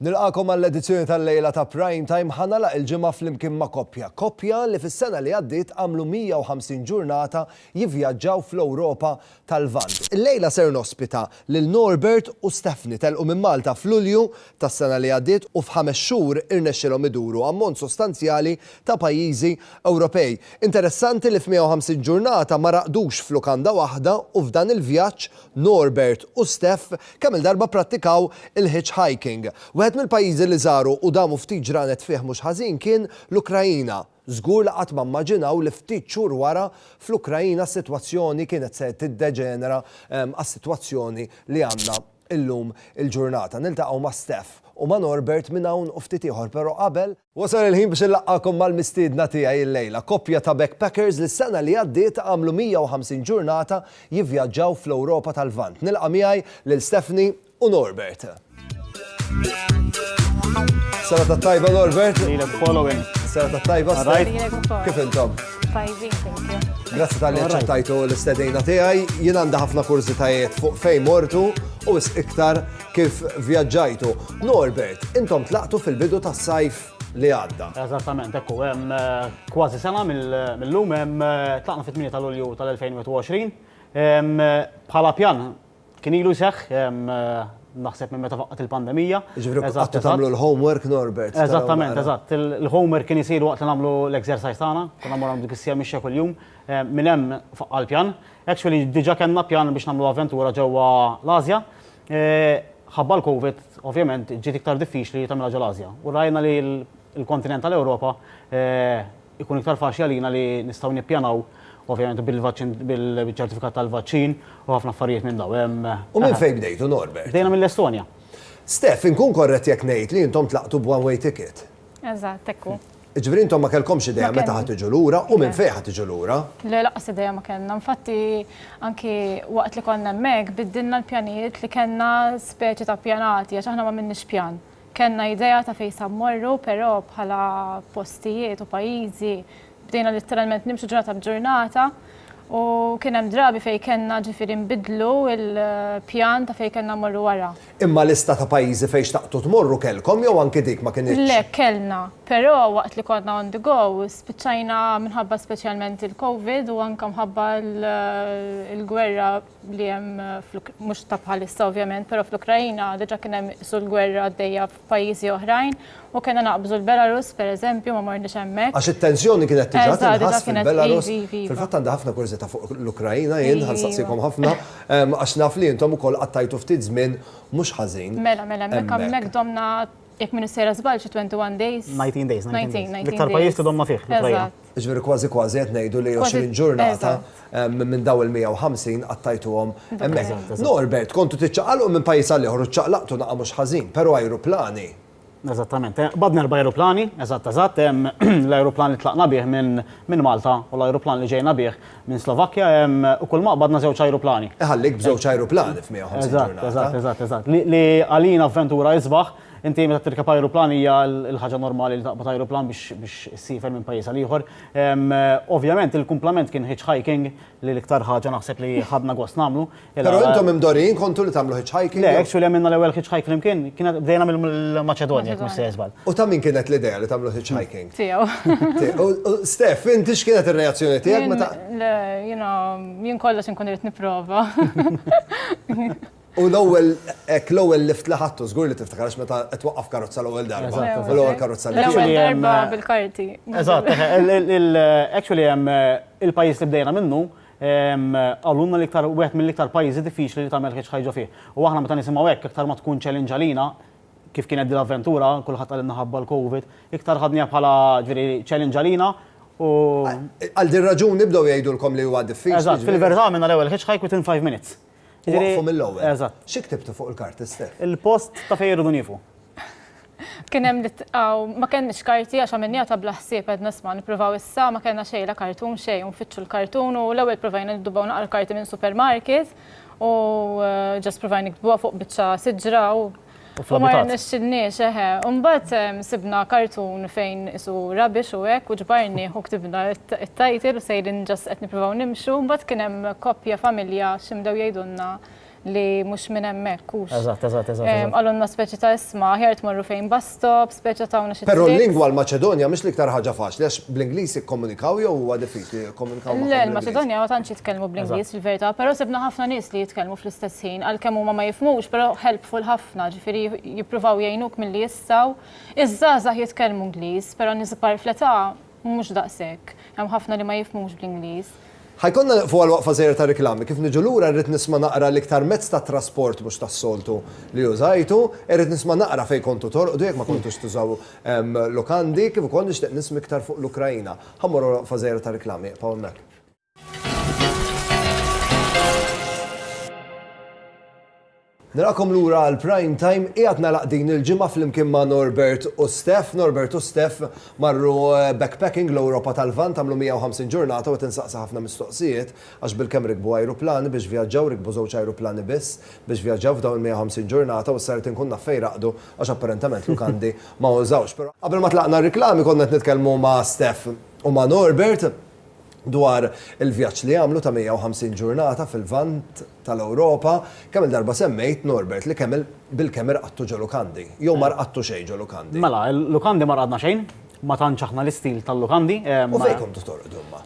Nilqagħkom għall-edizzjoni tal-lejla ta' Prime Time ħa nagħlaq il-ġimgħa flimkien ma' koppja. Koppja li fis-sena li għaddiet għamlu 150 ġurnata jivvjaġġaw fl-Ewropa tal-Lvant. Illejla ser nospita lil Norbert u Stephanie. Telqu minn Malta f'Lulju tas-sena li għaddiet u f'ħames xhur irnexxielhom iduru ammont sostanzjali ta' pajjiżi Ewropej. Interessanti li f'150 ġurnata ma raqdux f'lukanda waħda u f'dan il-vjaġġ Norbert u Steph kemm-il darba pprattikaw il-hitchhiking. Wieħed mill-pajjiżi li żaru u damu ftit ġranet fih mhux ħażin kien l-Ukraina. Żgur li qatt ma mmaġinaw li ftit xhur wara, fl-Ukraina s-sitwazzjoni kienet se tiddeġenera għas-sitwazzjoni li għandna llum il-ġurnata. Niltaqgħu ma' Steph u ma' Norbert minn hawn u ftit ieħor, però qabel, Wasal il-ħin biex inlaqqagħkom mal-mistiedna tiegħi illejla, koppja ta' backpackers li s-sena li għaddiet għamlu 150 ġurnata jivvjaġġaw fl-Ewropa tal-Lvant. Nilqa' miegħi lil Stephanie u Norbert. Sena tat-tajba Norbert. Lilek ukoll Owen. Sena tat-tajba Steph. Lilek ukoll. Kif intom? Tajbin, thank you. Grazzi tal-li ċċettajtu l-istedina tiegħi. Jien għandha ħafna kurżitajiet fuq fejn mortu u iktar Kif vjaġġajtu? Norbert, intom tlaqtu fil-bidu tas-sajf li għadda. Eżattament, ekku, hemm eh, kważi sena mill-lum hemm eh, tlaqna fit-8 ta' Lulju tal-2021. Eh, bħala pjan kien ilu jseħħ naħseb minn meta faqqat il-pandemija. Ġifri, għattu tamlu l-homework, Norbert. Eżattament, eżatt. Il-homework kien jisir waqt li namlu l-exercise tagħna, konna morru dik is-sija mixja kull-jum, minn hemm faqqa l-pjan. Actually diġa kellna pjan biex nagħmlu avventura ġewwa l-Asja. Ħabba l-Covid ovvjament ġiet iktar diffiċli li tagħmilha ġo l-Asja u rajna li l-kontinent tal-Ewropa ikun iktar faċli għalina li nistgħu nippjanaw ovvjament bil-vaċċin bil-ċertifikat tal-vaċċin u ħafna affarijiet minn dawn. U minn fejn bdejtu Norbert? Bdejna mill-Estonja. Steph, inkun korrett jekk ngħid li intom tlaqtu b'one-way ticket? Eżatt, hekk hu. Jiġifieri intom ma kellkomx idea meta ħa tiġu lura u minn fejn ħa tiġu lura? Le, lanqas idea ma kellna. Infatti, anki waqt li konna hemmhekk, biddilna l-pjanijiet li kellna speċi ta' pjanati għax aħna m'għamilniex pjan. Kellna idea ta' fejn sa mmorru, però bħala postijiet u pajjiżi bdejna litteralment nimxu ġurnata b'ġurnata u kien hemm drabi fejn kellna ġifieri nbiddlu l-pjan ta' fejn kellna mmorru wara. Imma lista ta' pajjiżi fejn xtaqtu tmorru kellkom jew anki dik ma kinitx? Le, kellna. Però waqt li konna on the go, spiċċajna minħabba speċjalment il-Covid u anke mħabba l-gwerra li hemm, mhux ta' bħalissa ovvjament, però fl-Ukraina diġà kien hemm qisu l-gwerra għaddejja pajjiżi oħrajn u kellna naqbżu l-Belarus pereżempju, ma morniex hemmhekk. Għax it-tensjoni kienet tiġa tinħass fil-Belarus. Fil-fatt għandi ħafna kurżità fuq l-Ukraina jien ħa nsaqsikom ħafna għax naf li intom ukoll qattajtu ftit żmien mhux ħażin. Mela, mela, hemmhekk hemmhekk domna jekk m'iniex sejra żball xi 21 days. 19 days. 19, 19 days. L-iktar pajjiż li domna fih l-Ukraina. Jiġifieri kważi kważi qed ngħidu li 20 ġurnata minn dawn il-150 qattajtuhom hemmhekk. Norbert, kontu tiċċaqalqu minn pajjiż għal ieħor u ċċaqlaqtu naqa' mhux ħażin, però ajruplani. Eżattament, qbadna erba' ajruplani, eżatt eżatt, l-ajruplan li tlaqna bih minn Malta u l-ajruplan li ġejna bih minn Slovakkja u kulma qbadna żewġ ajruplani. Iħallik b'żewġ ajruplani f'150 ġurnata. Eżatt, eżatt, eżatt, eżatt. Li għalina avventura isbaħ Inti meta tirkeb ajruplan hija l-ħaġa normali li taqbad ajruplan biex issiefer minn pajjiż għal ieħor. Ovvjament il-kumplament kien hitchhiking li l-iktar ħaġa naħseb li ħadna gost nagħmlu. Però intom imdorrijin kontu li tagħmlu hitchhiking? Le, actually għamilna l-ewwel hitchhike flimkien, kienet bdejna mill-Maċedonja jekk mhux se żball. U ta' min kienet l-idea li tagħmlu hitchhiking? Tiegħu. U Steph, inti x'kienet ir-reazzjoni tiegħek meta? Le, jiena jien kollox inkun irid nipprova. U l-ewwel, hekk l-ewwel lift li ħadtu, żgur li tiftakar għax meta qed twaqqaf karozza l-ewwel darba, u l-ewwel karozza li tirkeb. L-ewwel darba bil-karti. Eżatt, actually hemm il-pajjiż li bdejna minnu, qalulna li iktar, wieħed mill-iktar pajjiżi diffiċli li tagħmel hitch hike ġo fih. U aħna meta nisimgħu hekk, iktar ma tkun challenge għalina, kif kienet din l-avventura, kulħadd qalilna ħabba l-Covid, iktar ħadniha bħala, ġifieri, challenge għalina u. Għal din ir-raġuni bdew jgħidulkom li huwa diffiċli. Eżatt, fil-verità għamilna l-ewwel hitch hike within five minutes. Waqqfu mill-ewwel. Eżatt. Xi ktibtu fuq il-karti stess? Il-post ta' fejn irridu niefu. Kien hemm li ma kellniex karti għax għamilniha ta' bla ħsieb qed nisma' nippruvaw issa ma kellna xejn la kartun xejn u nfittxu l-kartun u l-ewwel provajna niddubbaw naqra karti minn supermarket u ġast provajna niktbuha fuq biċċa siġra u U fl-abitat. U ma rnexxinniex, eħe. U mbagħad sibna kartun fejn isu rubbish u hekk u ġbarnieh u ktibna t-title u sejrin just qed nippruvaw nimxu, mbagħad kien hemm koppja familja xi bdew jgħidulna li mhux minn hemmhekk hux. Eżatt, eżatt, eżatt. Qalulna speċi ta' isma, aħjar tmorru fejn bus stop, Speċa tawna xi Però l-lingwa l-Maċedonja mhix l-iktar ħaġa faċli għax bl-Ingliż jikkomunikaw jew huwa diffiċli jikkomunikaw ma' Le, l-Maċedonja ma tantx jitkellmu bl-Ingliż fil-verità, però sibna ħafna nies li jitkellmu fl-istess ħin, għalkemm huma ma jifhmux, però helpful ħafna, ġifieri jippruvaw jgħinuk milli jistgħu. Iż-żgħażagħ jitkellmu Ingliż, però nies kbar fl-età Mhux daqshekk. Hemm ħafna li ma jifhmux bl-Ingliż. Ħa jkollna nieqfu għal waqfa żgħira ta' riklami. Kif niġu lura rrid nisma' naqra l-iktar mezz ta' trasport mhux tas-soltu li użajtu. Irrid nisma' naqra fejn kontu torqdu jekk ma kontux tużaw lukandi. Kif ukoll nixtieq nisma' iktar fuq l-Ukraina. Ħa mmorru għal waqfa żgħira ta' riklami. Iqbgħu hemmhekk. Narakom lura għal Prime Time qiegħed nagħlaq din il-ġimgħa flimkien ma' Norbert u Steph. Norbert u Steph marru eh, backpacking l-Ewropa tal-Vant għamlu 150 ġurnata u tinsaqsa ħafna mistoqsijiet għax bil-kemm rikbu ajruplani biex vjaġġaw rikbu żewġ ajruplani biss biex vjaġġaw f'dawn il-150 ġurnata u s-saret inkun naf fejn raqdu għax apparentement lukandi ma użawx. Qabel ma tlaqna r-riklami konna qed nitkellmu ma' Steph u ma' Norbert dwar il-vjaġġ li għamlu ta' 150 ġurnata fil-Lvant tal-Ewropa, kemm-il darba semmejt, Norbert, li kemm-il bil-kemm irqadtu ġo lukandi. Jew ma rqadtu xejn ġo lukandi. Mela, lukandi ma rqadna xejn, ma tantx aħna l-istil tal-lukandi. U fejn kontu torqdu imma?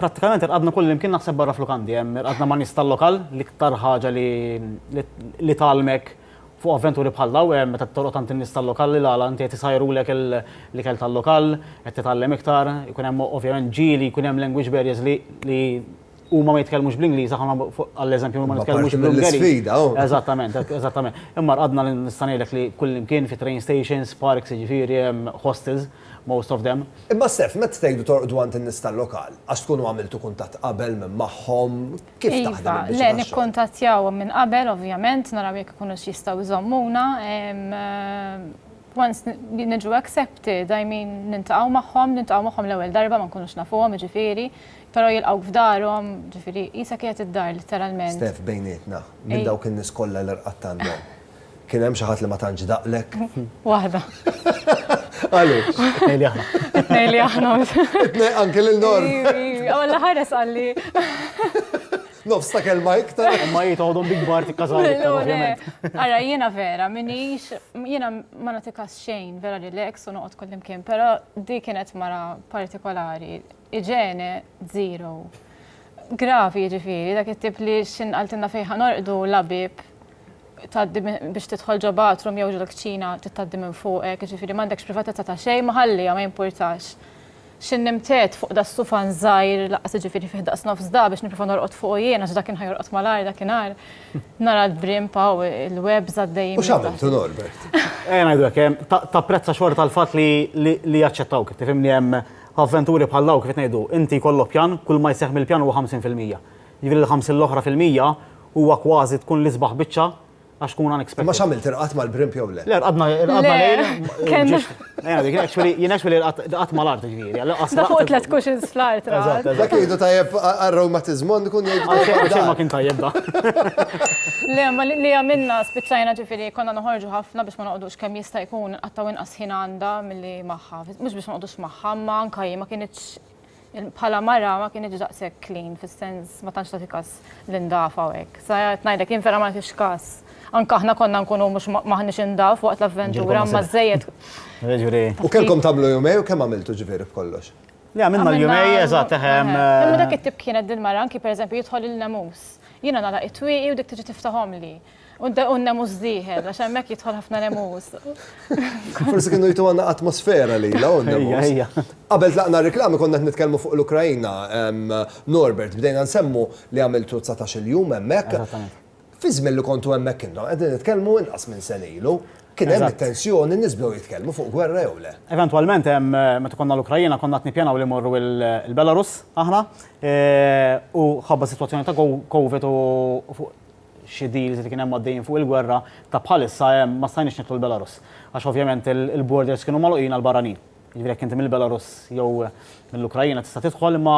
Prattikament irqadna kullimkien naħseb barra f'lukandi. Irqadna ma' nies tal-lokal, l-iktar ħaġa li tgħallmek Fuq avventuri bħal dawn hemm meta toroq tant in-nies tal-lokal li l-għala inti qed isajrulek l-ikel tal-lokal, qed titgħallem iktar, ikun hemm ovvjament ġieli, jkun hemm language barriers li li huma ma jitkellmux bl-Ingliż, aħna għall-eżempju huma ma nitkellmux bl-Ungeriż. Sfida, oh. Eżattament, eżattament. Imma qadna li nista' ngħidlek li kullimkien fi train stations, parks, jiġifieri hemm hostels, most of them. Imma Sef, meta tgħidu torqdu għand in-nies tal-lokal, għax tkunu għamiltu kuntatt qabel magħhom, Kif taħdem Iva, il-biċċa le tax-xogħol? nikkuntattjawhom minn qabel ovvjament, naraw jekk ikunux jistgħu jżommuna. em, eh, Once n- li niġu accepted, I mean, niltaqgħu magħhom, niltaqgħu magħhom l-ewwel darba ma nkunux nafuhom, jiġifieri, però jilqgħuk f'darhom, jiġifieri qisha kienet id-dar litteralment. Steph, bejnietna, minn Ej. dawk in-nies kollha li rqadt għandhom, Kien hemm xi ħadd li ma tantx daqlek? Waħda. Għaliex? Tnej li aħna. Tnej li aħna. Tnej anke lil Nor. Għalla ħares għalli. Nofs ta' kelma iktar. Ma jitgħodhom big bar tikkażaw iktar ovvjament. Ara jiena vera minix jiena ma nagħtikas xejn vera li l-ex u noqgħod kullimkien, però di kienet mara partikolari. Iġene zero. Gravi ġifieri dak it-tip li x'inqaltilna fejn ħanorqdu labib tgħaddi biex tidħol ġo bathroom jew ġo kċina tgħaddi minn fuqek, jiġifieri m'għandekx privatezza ta' xejn ma ħalliha ma jimpurtax. Xi nimtet fuq da sufan żgħir laqas jiġifieri fih daqs nofs da biex nipprova norqod fuqu jien għax da kien ħajorqod mal-agħar dakinhar. Nara l-brim paw il-webs għaddejjin. U x'għamiltu Norbert? Ejja ngħidulek hemm tapprezza xorta l-fatt li jaċċettawk. Tifhimni hemm f'avventuri bħal dawn kif qed ngħidu inti jkollok pjan kull ma jseħħ mill-pjan huwa 50 fil-mija. Jiġifieri l-50 l-oħra fil-mija huwa kważi tkun l-isbaħ biċċa għax tkun unexpected. Imma x'għamilt irqadt mal-brimp jew le? Le rqadna rqadna lejl. Jien actually rqadt mal-art ġifieri. Da fuq tliet cushions fl-art. Dak jgħidu tajjeb għar-rewmatiżmon ikun jgħidu. Ma kien tajjeb da. Le, ma li għamilna spiċċajna ġifieri konna noħorġu ħafna biex ma noqgħodux kemm jista' jkun qattgħu inqas ħin għandha milli magħha. Mhux biex ma noqgħodux magħha, ma anke ma kienitx Bħala mara ma kienx daqshekk clean fis-sens ma tantx tagħti każ l-indafa u hekk. Sa qed ngħidlek jien vera ma nagħtix każ. Anke aħna konna nkunu mhux m'aħniex indaf waqt l-avventura imma żejjed. Jiġifieri. U kellkom tagħmlu jumejn u kemm għamiltu ġifieri b'kollox? Le għamilna l-jumejn eżatt eħem. Imma dak it-tip kienet din mara anke pereżempju jidħol il-nemus. Jiena nagħlaq it-twieqi u dik tiġi tiftahomli. U n-nemus diħel, għax hemmhekk jidħol ħafna nemus. Forsi kienu jtu għandna atmosfera li la nemus. Qabel tlaqna reklami konna nitkellmu fuq l-Ukrajna, Norbert, bdejna nsemmu li għamiltu 19 il-jum hemmhekk. Fi żmien li kontu hemmhekk intom qegħdin nitkellmu inqas minn sen ilu. Kien hemm tensjoni nisbdew jitkellmu fuq gwerra jew le. Eventwalment hemm meta konna l-Ukrajna konna qed nippjanaw li morru l-Belarus aħna u ħabba sitwazzjoni ta' COVID u xi deals li kien hemm għaddejjin fuq il-gwerra, ta' bħalissa hemm ma stajniex nidħlu l-Belarus. Għax ovvjament il-borders kienu magħluqin għall-barranin. Jiġifieri jekk inti mill-Belarus jew mill-Ukrajina tista' tidħol imma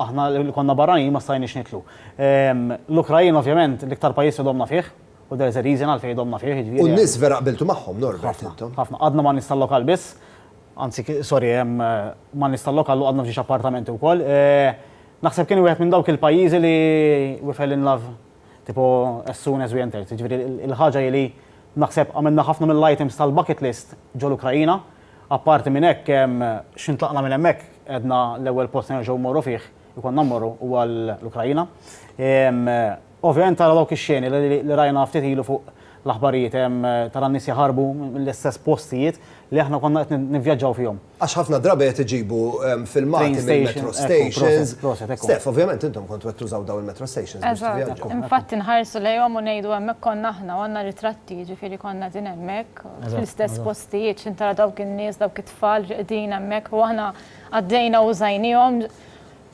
aħna li konna barranin ma stajniex nidħlu. Ehm, L-Ukrajina ovvjament l-iktar pajjiż li domna fih, u there is a reason għalfejn domna fih. Jiġifieri u n-nies vera qbiltu magħhom, Norbert, intom. Ħafna, għadna ma' nies tal-lokal biss, anzi, sorry, ehm, ma' nies tal-lokal u għadna f'ġiex appartamenti wkoll. Eh, Naħseb kien wieħed minn dawk il-pajjiżi li we fell in love tipo as soon as we entered. Jiġifieri il-ħaġa hi li naħseb għamilna ħafna mill-items tal-bucket list ġol-Ukraina. Apparti minn hekk, x'ħin tlaqna minn hemmhekk għedna l-ewwel post se nerġgħu mmorru fih, ikollna mmorru, huwa l-Ukraina. Ovvjament tara dawk ix-xeni li rajna ftit ilu fuq l-aħbarijiet, tara n-nies jaħarbu mill-istess postijiet li aħna konna qed nivvjaġġaw fihom. Għax ħafna drabi qed iġibu filmati mill-metro stations. Steph, ovvjament intom kontu qed tużaw dawn il-metro stations biex tivvjaġġaw. Infatti nħarsu lejhom u ngħidu hemmhekk konna aħna u għandna ritratti, jiġifieri konna qegħdin hemmhekk fl-istess postijiet x'intara dawk in-nies, dawk it-tfal li qegħdin hemmhekk u aħna għaddejna u użajniehom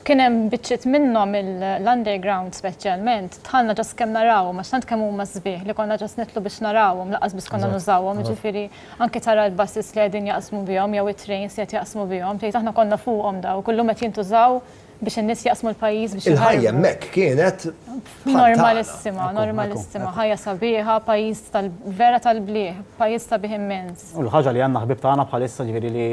Kien hemm biċċiet minnhom l-underground speċjalment, dħalna ġast kemm narawhom għax tant kemm huma sbieħ li konna ġast nidħlu biex narawhom lanqas biss konna nużawhom, jiġifieri anke tara l-buses li qegħdin jaqsmu bihom jew it-trains li qed jaqsmu bihom, tgħid aħna konna fuqhom daw, kull lum qed jintużaw biex in-nies jaqsmu l-pajjiż biex jaħarbu. Il-ħajja hemmhekk kienet bħal tagħna. Normalissima, normalissima, ħajja sabiħa, pajjiż tal-vera tal-blieh, pajjiż sabiħ immens. U l-ħaġa li għandna ħbieb tagħna bħalissa ġifieri li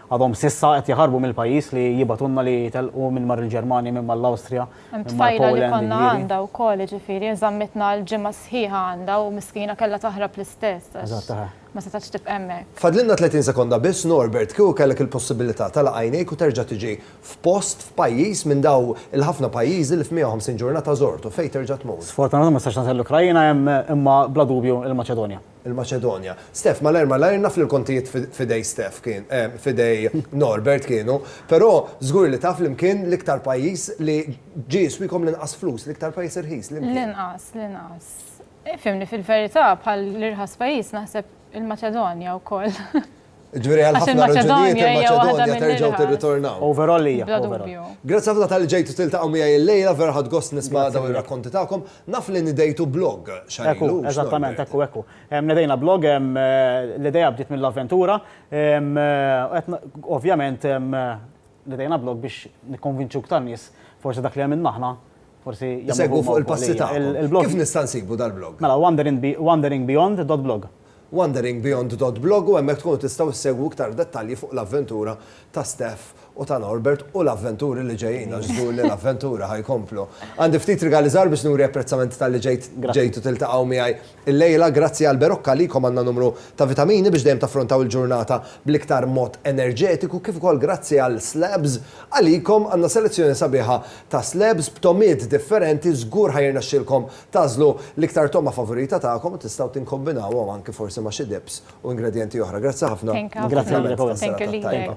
Għadhom s'issa qed jaħarbu mill-pajjiż li jibgħatulna li jitellqu minn mar il-Ġermanja, minn mal-Awstrija, minn mar Poland, jiġifieri. Hemm tfajla li konna għandha wkoll, jiġifieri inżammitna għal ġimgħa sħiħa għandha u miskina kellha taħrab l-istess għax ma setgħetx tibqa' hemmhekk. Fadlilna 30 sekonda biss, Norbert, kieku kellek il-possibilità tagħlaq għajnejk u terġa' tiġi f'post, f'pajjiż minn daw il-ħafna pajjiżi li f'150 ġurnata żortu, fejn terġa' tmur? Sfortunatament ma nistax nagħżel l-Ukraina, imma bla dubju l-Maċedonja. il-Maċedonja. Steph, malajr malajr, naf li l-kontijiet f'idej Steph kien, f'idej Norbert kienu, però żgur li taf liem kien l-iktar pajjiż li ġie jiswikom l-inqas flus, l-iktar pajjiż irħis, liem kien? L-inqas, l-inqas. Ifhimni, fil-verità bħal l-irħas pajjiż naħseb il-Maċedonja wkoll. Ġviri għal ħafna raġunijiet il-Maċedonja terġaw tirritornaw. Overall hija. Grazzi ħafna tal ġejtu tiltaqgħu miegħi l-lejla vera ħadd gost nisma' daw ir-rakkonti tagħkom. Naf li nidejtu blog xarilu. Eżattament, ekku ekku. Nidejna blog l-idea bdiet mill-avventura. Ovvjament nidejna blog biex nikkonvinċu ktar nies forsi dak li għamilna aħna Forsi Isegwu fuq il-passi tagħkom. Kif nista' nsibu dal-blog? Mela wanderingbeyond.blog. Wanderingbeyond.blog u hemmhekk tkunu tistgħu ssegwu iktar dettalji fuq l-avventura ta' Steph u ta' Norbert u l-avventuri li ġejjin għax żgur li l-avventuri ħa jkomplu. Għandi ftit rigali żgħar biex nuri apprezzament talli ġejt ġejtu tiltaqgħu miegħi Illejla, grazzi għal Berocca għalikom għandna numru ta' vitamini biex dejjem taffrontaw il-ġurnata bl-iktar mod enerġetiku kif ukoll grazzi għal Slabs għalikom għandna selezzjoni sabiħa ta' slabs b'togħmiet differenti żgur ħa jirnexxilkom tagħżlu l-iktar togħma favorita tagħkom u tistgħu tinkombinawhom anki forsi ma' xi dips u ingredjenti oħra. Grazzi ħafna u naf li għamilna tassew tat-tajba.